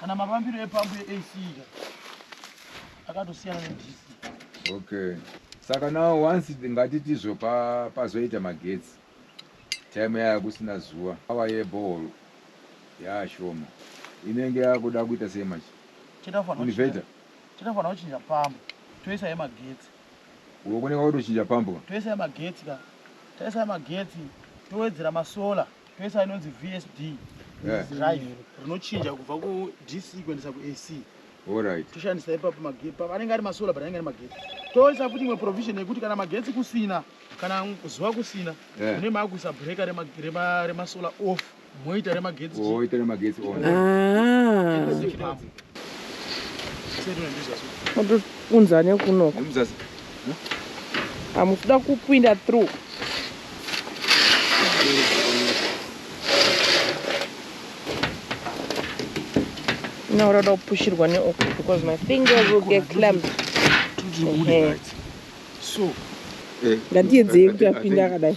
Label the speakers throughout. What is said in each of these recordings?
Speaker 1: kana mafambiro
Speaker 2: epambu yeac ika akatosiyana nedc okay
Speaker 3: saka now once ngatitizvo pazoita magetsi time yaya kusina zuva awa yebohol yaashoma inenge yakuda kuita sei machi invater
Speaker 2: tinofanira kuchinja pambo toisa yemagetsi uko kunenge
Speaker 3: kwakutochinja pambo toisa yemagetsi ka
Speaker 2: taisa yemagetsi towedzera masolar pesa inonzi vsd drive rinochinja kubva kudc kuendesa kuac Alright. toshandisa
Speaker 3: ipapo magetsi
Speaker 2: pa- anenge ari masolar but anenge ari magetsi toisa futi imwe provision yekuti kana magetsi kusina kana zuva kusina Eh. mune maakuisa breka rema- rema- remasolar off moita remagetsi Woita nemagetsi on.
Speaker 3: Ah. chipambu
Speaker 4: unza nekunoko hamukuda kupinda through now rada kupushirwa neoko because my fingers will get clamp
Speaker 2: ngatiyedzei
Speaker 4: kuti apinde akadai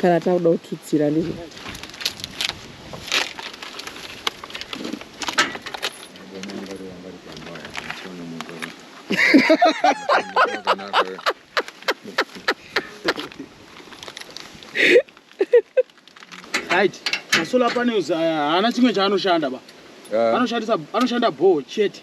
Speaker 4: kana takuda kututsira ndizvo right
Speaker 2: masolar panels aya haana chimwe chaanoshanda ba anoshandisa anoshanda bhoo chete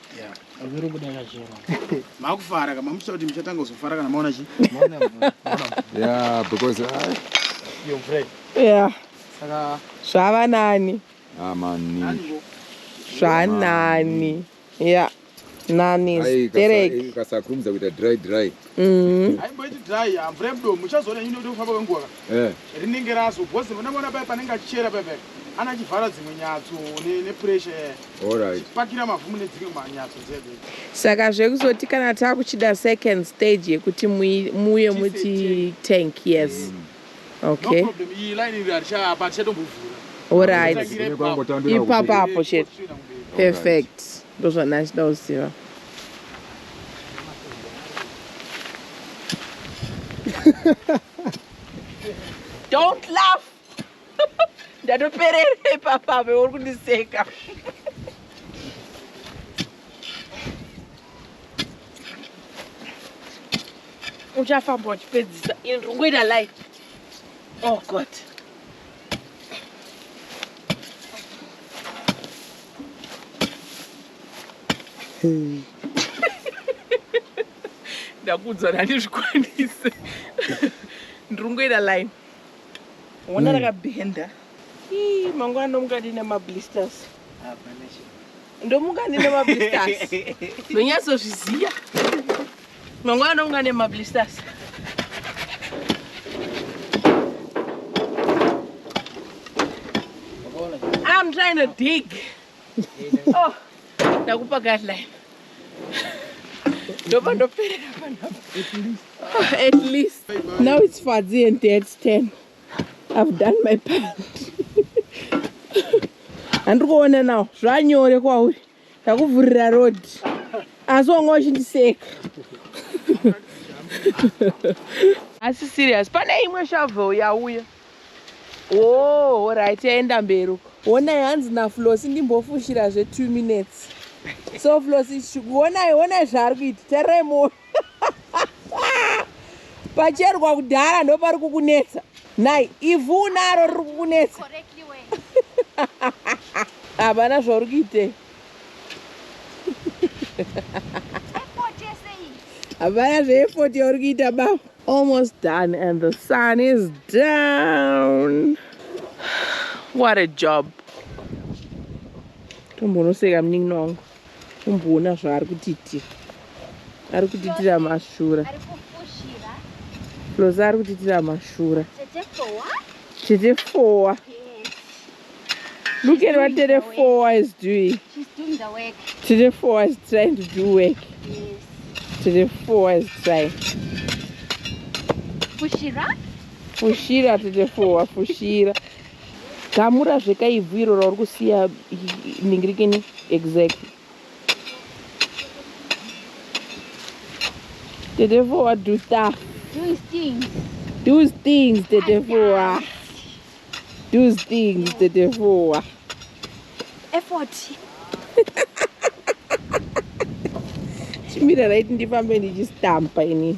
Speaker 2: Zviri kuda kachero. Makufara kama muchita kuti muchatanga kuzofara kana maona chi.
Speaker 3: Yeah, because I Yo
Speaker 2: Fred. Yeah. Saka zvava nani?
Speaker 4: Ah mani. Zvanani. Yeah. Nani. Ai, Derek. Kasakurumidza kuita dry
Speaker 3: dry. Mm. Haimboiti
Speaker 2: dry ya mvura yemudomo uchazoona nyundo kuti kufamba kwenguva ka. Eh. Rinenge raso because muna mwana paya panenge achichera paya paya. Ana chivhara dzimwe nyatso ne, ne pressure yaya. All right. Pakira
Speaker 3: mavhumu nedzimwe
Speaker 2: manyatso dzedu. Saka zvekuzoti
Speaker 4: kana takuchida second stage yekuti muye muti tank yes. Mm. Okay. No problem. Iyi line
Speaker 2: iri haricha apa harichatombovhura. Alright.
Speaker 4: Ipapa apo chete. Perfect. Ndozvana achida kuziva. Don't laugh. Ndatoperere papa apo uri kundiseka. uchafamba uchipedzisa ini ndiri kungoita light oh god ndakuudzwa nani zvikwanise ndiri kungoita line ona hmm. rakabhenda mangwana mukati nemablisters ah, ndomuka ndine mablisters ndonyatsozviziva mangwana ndomuka ndine mablisters I'm trying to dig. oh, ndakupa guideline. Ndoba ndopera panapa. At least. Now it's Fadzi and Dad's turn. I've done my part. Handiri kuona nawo zvanyore kwauri ndakuvhurira road asi wanga uchindiseka asi serious pane imwe shovel yauya oh right yaenda mberi uko honai hanzi naflosi ndimbofushira zve two minutes so flosi honai honai zvaari kuita tarirai moyo pacherwa kudhara ndopari kukunetsa nai ivhu unaro riri kukunetsa havana zvauri kuitei havana zveefoti yauri kuita baba almost done and the sun is down what a job tombonoseka munin'ina wangu kumboona zvaari kutiitira ari kutiitira mashura lozi ari kutiitira mashura chete fowa look at what tete fowa is doing
Speaker 5: tete fowa is
Speaker 4: trying to do work
Speaker 5: tete
Speaker 4: fowa is trying
Speaker 5: fushira
Speaker 4: tete fowa fushira Gamura zveka ivhu iro rauri kusiya ningirikini exactly. Tete Fowa do stuff. Do his things.
Speaker 5: Do his
Speaker 4: things Tete Fowa. Do his things Tete Fowa.
Speaker 5: Effort.
Speaker 4: Chimira right ndifambe ndichistampa ini.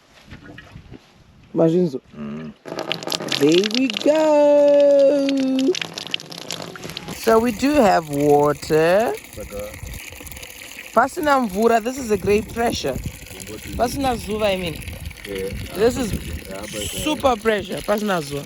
Speaker 4: mazvinzo mm. there we go so we do have water pasina mvura this is a great pressure pasina zuva i mean this is super pressure pasina zuva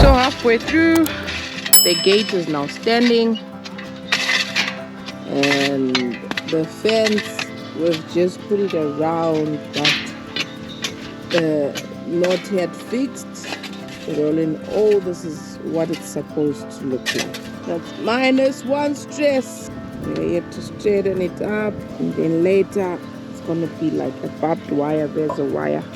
Speaker 4: So halfway through, the gate is now standing and the fence we've just put it around but uh, not yet fixed but all in all this is what it's supposed to look like that's minus one stress we have to straighten it up and then later it's gonna be like a barbed wire there's a wire